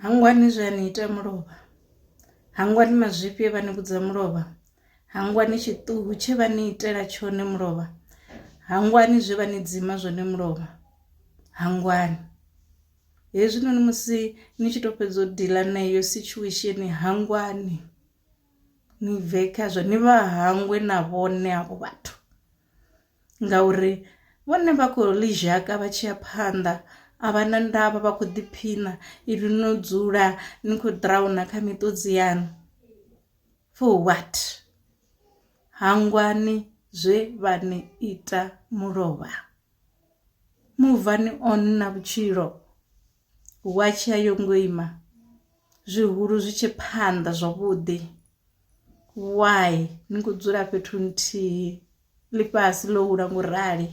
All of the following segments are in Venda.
Hangwani zwe a ni ita mulovha, hangwani mazwifhi e vha ni vhudza mulovha, hangwani tshiṱuhu tshe vha ni itela tshone mulovha, hangwani zwe vha ni dzima zwone mulovha, hangwani. Hezwinoni musi ni tshi to fhedza u diḽa na iyo situation hangwani ni bve khazwo ni vha hangwe na vhone havho vhathu ngauri vhone vha khou ḽi zhaka vha tshi ya phanḓa a vha na ndavha vha khou ḓiphiṋa ivi no dzula ni khou ḓirauna kha miṱodzi yaṋu for what. Hangwani zwe vha ni ita mulovha muvhani on na vhutshilo. Watshi ya yo ngo ima zwihulu zwi tshi phanḓa zwavhuḓi why ni kho dzula fhethu nthihi ḽifhasi ḽo hula ngo rali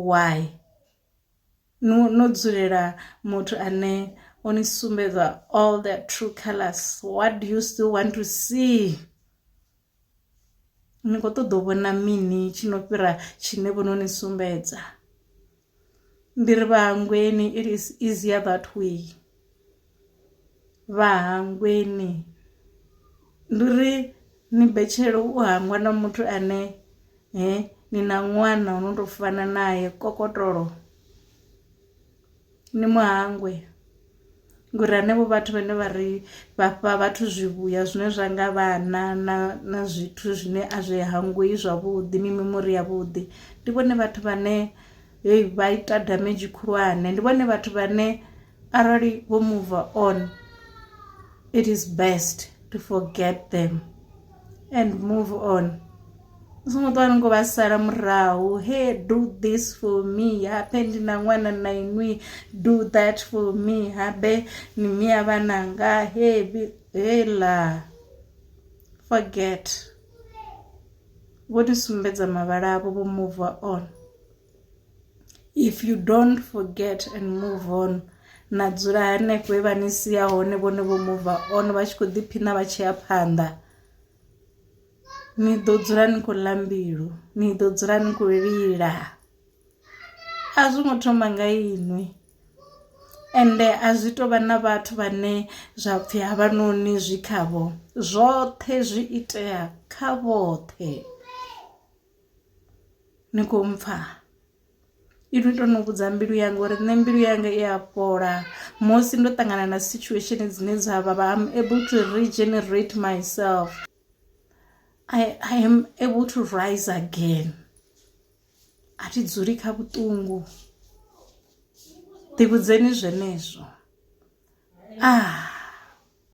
why no no dzulela muthu ane o ni sumbedza all the true colours what do you still want to see. ni kho ṱoḓa u vhona mini tshi no fhira tshine vho no ni sumbedza ndi ri vhahangweni it is easier that way vhahangweni ndi ri ni betshelo u hangwa na muthu ane he ni na ṅwana u no to fana naye kokotolo Ni mu hangwe, ngori hanevho vhathu vhane vha ri vha fha vhathu zwivhuya zwine zwa nga vhana na na zwithu zwine a zwi hangwei zwavhuḓi mimemori ya vhuḓi ndi vhone vhathu vhane heyi vha ita damage khulwane, ndi vhone vhathu vhane arali vho muva on it is best to forget them. and move on u songo ṱwa ni khou vha sala murahu he do this for me habe ndi na ṅwana na inwi do that for me habe ni mia vhananga he hela forget vho ni sumbedza mavhala avho vho move on if you don't forget and move on na dzula hanefho he vha ni sia hone vhone vho mova on vha tshi khou ḓiphina vha tshi ya phanḓa ni ḓo dzula ni khou ḽa mbilu ni ḓo dzula ni khou lila a zwi ngo thoma nga inwi ende a zwi tou vha na vhathu vhane zwa pfhi havhanoni zwi khavho zwoṱhe zwi itea kha vhoṱhe. ni kho mpfha inwi to no vhudza mbilu yanga uri nṋe mbilu yanga i a fhola musi ndo ṱangana na situation dzine dza vha vha am able to regenerate myself I, I am able to rise again a thi dzuli kha vhuṱungu ḓivhudzeni zwenezwo ah